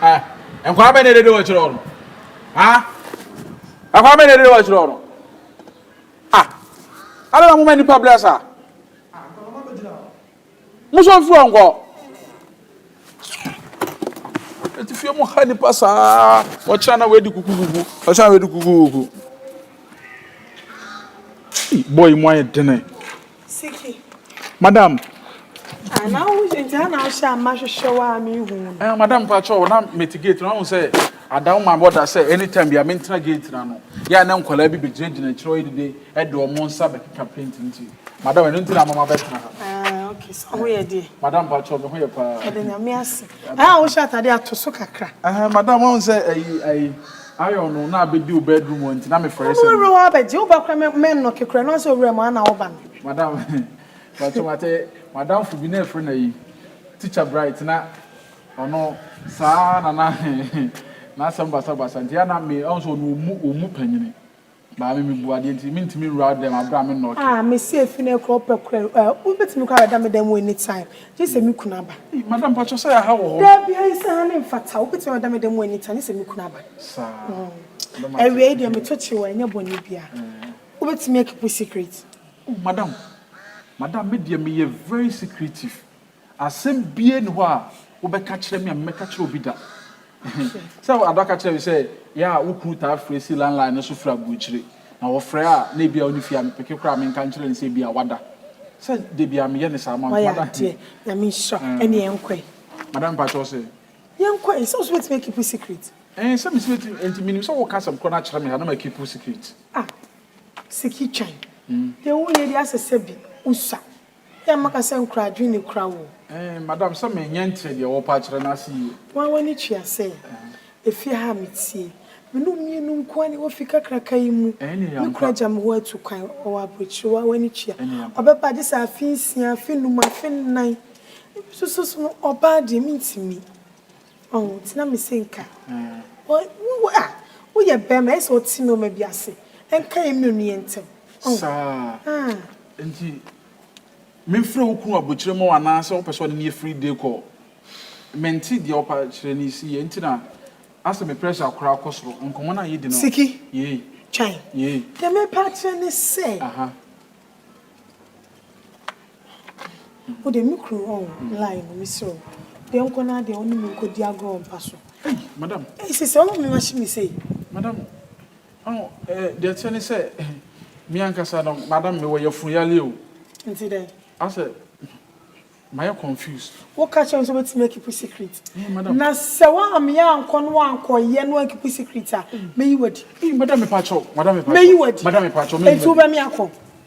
ɛ nkwa bɛ ne dede wɔ kyerɛ no ha nkwa bɛ ne dede wɔ kyerɛ no ah ala na mo ma nipa bless a mo so nfiri nkɔ ɛti fie mo ha nipa saa wɔkyerɛ na wɔadi kukukuku wɔkyerɛ na wɔadi kukukuku bɔyi mo ayɛ dene. Siki. Madam. Ah, na wo nti na na ahwɛ ama hwehwɛ wa a me hu. Eh, madam pa cho na meti gate na hu sɛ ada wo ma boda sɛ anytime bia mentena gate na no. Ya na nkwala bi begyina gyina kyerɛ ɔyɛ dide ɛde ɔmo nsa bɛkeka paint nti. Madam ɛno nti na mama bɛtena ha. Ah, okay. So ho yɛ deɛ. Madam pa cho me ho yɛ paa. Ɛde nyame ase. Ah, wo hyɛ atade ato so kakra. Eh, madam hu sɛ ayi ayi Iron no na abedi wo bedroom hɔ nti na me frɛ sɛ. Ɔwura hɔ bɛgye wo ba kora mɛ nnɔke kora no ansɛ owura mu ana wo ba no. Madam mpakyɛw matɛ madamfo bi na ɛfrɛ no ayi teacher bright na ɔno saa na na n'asɛm basabasa nti ana me ɔn sɛ ɔno ɔmu ɔmu panyini. Maame, mebua, deɛ nti mentumi nwura wo dɛm aberɛ a me nnɔ ɔtwe. Ah, mese efi nnɛ kora wopɛ kora o, eh, wobɛtumi kora abɛda me dan mu any time, gye sɛ me kunu aba. Ei, madam, mpakyɛ sɛ yɛaha wɔ hɔ? Dabi, ayi sɛ ha no mfata, wobɛtumi abɛda me dan mu any time, gye sɛ me kunu aba. Saa, madam, ate. Awiei deɛ, meto kyere wo a, ɛnyɛ bɔne biara, wobɛtumi akipu secret. Oh, madam, madam, me deɛ meyɛ very secretive, Asɛm biara nni hɔ a wobɛka kyerɛ me a memmɛka kyerɛɛ obi da. Sɛ Ada ka kyerɛɛ me sɛ yɛ a wo kunu taa frɛ si landline no so firi aburokyire, na ɔfrɛ a na ebia ɔnni fie a, mepeke koraa a menka nkyerɛ no sɛ ebia wada. Sɛ da biara meyɛ no saa ma no, nti Wayɛ madam. adeɛ. Nyame nhyira wo. Ɛne yɛnkɔ ɛ. Madam mpakyɛ wo sɛ. Yɛnkɔ ɛ. Nso wo nso wobɛtumi akeep wo secret. Ɛɛ sɛ mese mɛtumi ɛ nti menim sɛ woka asɛm korɔ no akyerɛ me ha na makeep wo secret. Ah Siki twan. Deɛ wonyɛ deɛ asɛ sɛ bi wo sua. Yɛ maka sɛ nkura adwene ni kura wo. Eeh madam sɛ me nyɛ nteɛ deɛ wɔpa akyerɛ no ase yie. Woa w'ani tua sɛ efie ha a me tie. Me nom mmienu nkoa na ɛwɔ fie kakraka yi mu. Me kura agya me hɔ atu kwan ɔwɔ abrokyire woa w'ani tua. Ɔbɛba gye sɛ afe nsia, afe num, afe nnan. Ebi nso so no ɔbaa deɛ me ntumi. Oh nti na mese nka wo ah woyɛ bɛɛma ayɛ sɛ wote nnoɔma bi ase ɛnka yɛ mmienu yɛ ntɛm oh saa ah nti menfrɛ wo kunu abokyire ma wo anaa sɛ wopɛ sɛ ɔne ne yɛ free day call mente deɛ wopa kyerɛ no si yɛ nti na asɛ me pressure koraa kɔ soro nkɔmmɔ no a yɛdi no Siki yei twan yei deɛ mepa akyerɛ ne sɛ aha. Wo deɛ me kunu ɔn line no me serɛ wo deɛ nkɔ na deɛ ɔne me nkɔ di agorɔ mpa so. Ei madam. Ei sese ɔma me mahye me sei. Madam ɔn eh deɛ ɛteɛ ne sɛ eh me ankasa no madam me wɔ yafunu yareɛ o. Nti dɛn. Asɛ mayɛ confused. Wo ka kyerɛ no sɛ ɔbɛtumi akipu secret. Ei madam. Na sɛ wo ameɛ ankɔ na wankɔ yɛ na wankipu secret a mɛyi wadi. Ei madam mepa kyɛw madam mepa kyɛw. Mɛyi wadi. Madam mepa kyɛw mɛyi wadi. Nti wo bɛ me akɔ.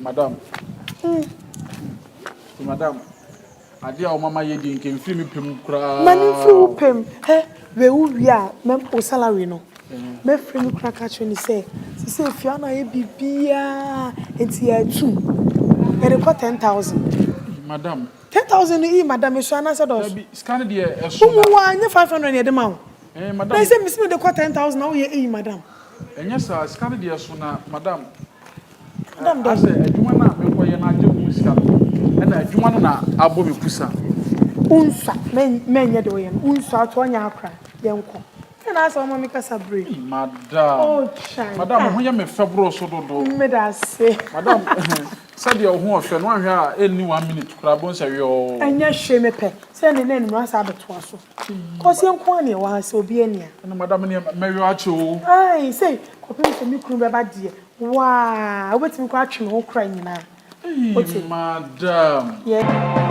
Madam eh Madam adeɛ a wo mama yɛ deɛ nka mfiri me pɛ mu koraa Ma no mfiri wo pɛ mu ɛ Wei wo wie a mɛ wo salary no Mɛfrɛ no kura ka kyerɛ no sɛ Sesei efie ano ayɛ biribiara nti yɛatu Yɛde kɔ ten thousand Ii madam Ten thousand no ii madam ɛsua anaasɛ ɛdɔɔso Dabi sika no deɛ ɛso na Wo mu waa nyɛ five hundred na yɛde ma wo Eh madam Mese mese mede kɔ ten thousand na woyɛ ii madam Ɛnyɛ saa sika no deɛ ɛso na madam Asɛ adwuma no a merekɔyɛ no agye ho sika no, ɛna adwuma no na abɔ me pusa. Wonsua, mɛnyɛ deɛ ɔyɛ no, wonsua ato ɔnyɛ akora, yɛnkɔ. Sɛ na asɛ ɔma me kasa bere. Ei madam. Oh chai. Madam, wo ho yɛ me fɛ boro so dodo. Meda ase. Madam, sɛdeɛ wo ho ɔfɛ no, woanhwɛ a ɛnni one minute koraa, bohu sɛ yɔɔ. Ɛnyɛ hwee, mepɛ sɛ ɛnɛ na anwummerɛ asan abɛtoa so. Ɔseɛ nko ara na ɛwɔ ha sɛ obiara nni ha. Ɛna madam neɛ mɛyɔ akyɛ oo. Aii sei kɔpem sɛ me kunu bɛba deɛ waa wobɛtumi koraa atwe me ho kora nyinaa. Eii madam. Yeah.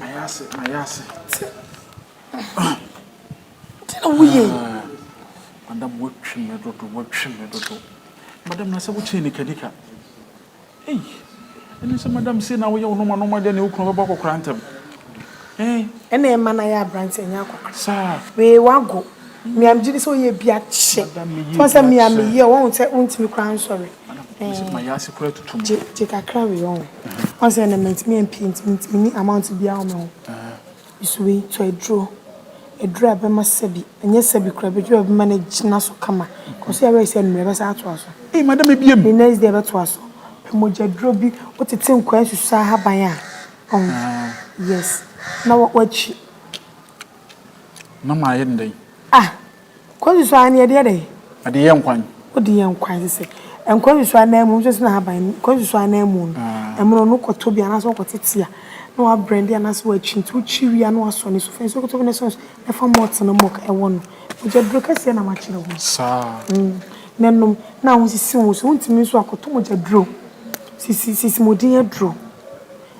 Mayɛ ase, mayɛ ase. Sɛ, ti na woyɛ yi. Ah, madam watwi me dodo, watwi me dodo. Madam na sɛ wokyɛn nikanika. Ei, ɛne sɛ madam sei na woyɛ wo noma noma deɛ ne wo kunu bɛbɔ akɔkora ntɛm. Eh. Ɛna ɛma na yɛ aberanteɛ nyɛ akɔkora. Saa. Wee wago. Mia megye di sɛ woyɛ bi akyɛ. Madam meyɛ bi akyɛ. Sɛ mia meyɛ, wɔn sɛ wontumi koraa nsɔre. gye kakra wei ɔho ɔn sɛ ɛnɛ mantumi ampie nti mentumi ni amount biaa wɔ me ho nso wei nso aduro aduro a ɛbɛma sɛbi ɛnyɛ sɛbi kora bɛduro a ɛbɛma no agyina so kama kɔso yɛwerɛ sɛ mmerɛ ɛbɛsa atoa so ei madam ebiem the next day ɛbɛtoa so pɛ mogya duro bi wotete nkwaa nsusu ahaban a ɔho yes na wakyi mama ayɛ ne dɛn ah Nkwa-nsusuan ara ne yɛde yɛ dɛn? Yɛde yɛ nkwan. Wode yɛ nkwan te sɛ nkwa-nsusuan ananmu, nso sene ahaban no, nkwa-nsusuan ananmu no, ɛmono no kɔtɔ bi anaasɛ ɔkɔte tia na wabrɛnde anaasɛ wakyi nti wokyi wie a na wasɔ ne sofɛ nso kɔtɔ bi na sɔnso na fa malt no mɔk ɛwɔ no mogya duro kɛseɛ na makyerɛ ho na nom na ahosisi wo nso wontumi nso akɔtɔ mogya duro sisi sisi modin aduro.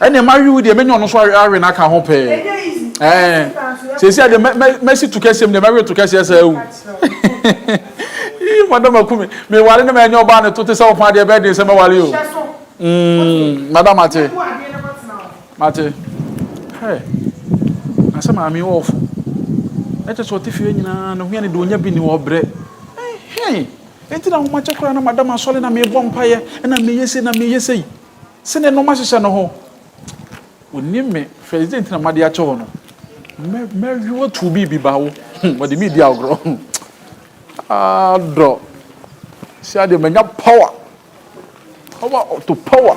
Ɛnneɛ mawe wo deɛ, mɛnya ɔno nso awe no aka ho pɛɛ. Ɛɛ, seesei deɛ mɛ, mɛ, mɛsi to kɛseɛ mu deɛ, mɛwe to kɛseɛ saa wu. Ii, madam aku me. Meware na manya ɔbaa ne to te sɛ wo paa deɛ, ɛbɛyɛ den sɛ mɛware o. Mm, madam mate. Mate. Hɛ, na sɛ maame yi wɔ ɔfo. Na kyerɛ sɛ ɔte fie nyinaa, ne ho yɛ no dɛ, ɔnya bi nni hɔ, ɔbrɛ. Ɛhee, enti na ahomakyɛ koraa na madam asɔre na mebɔ mpaeɛ, ɛna meyɛ sei na meyɛ sei. Se ne nnoɔma hyehyɛ no ho. Onim me, hwɛ dze nti na made akyɛ wo no. Mɛ, mɛwe wo atow biribi ba wo ho. Wɔde me redi agorɔ. Ah, dɔ. Se adeɛ manya power. Power to power.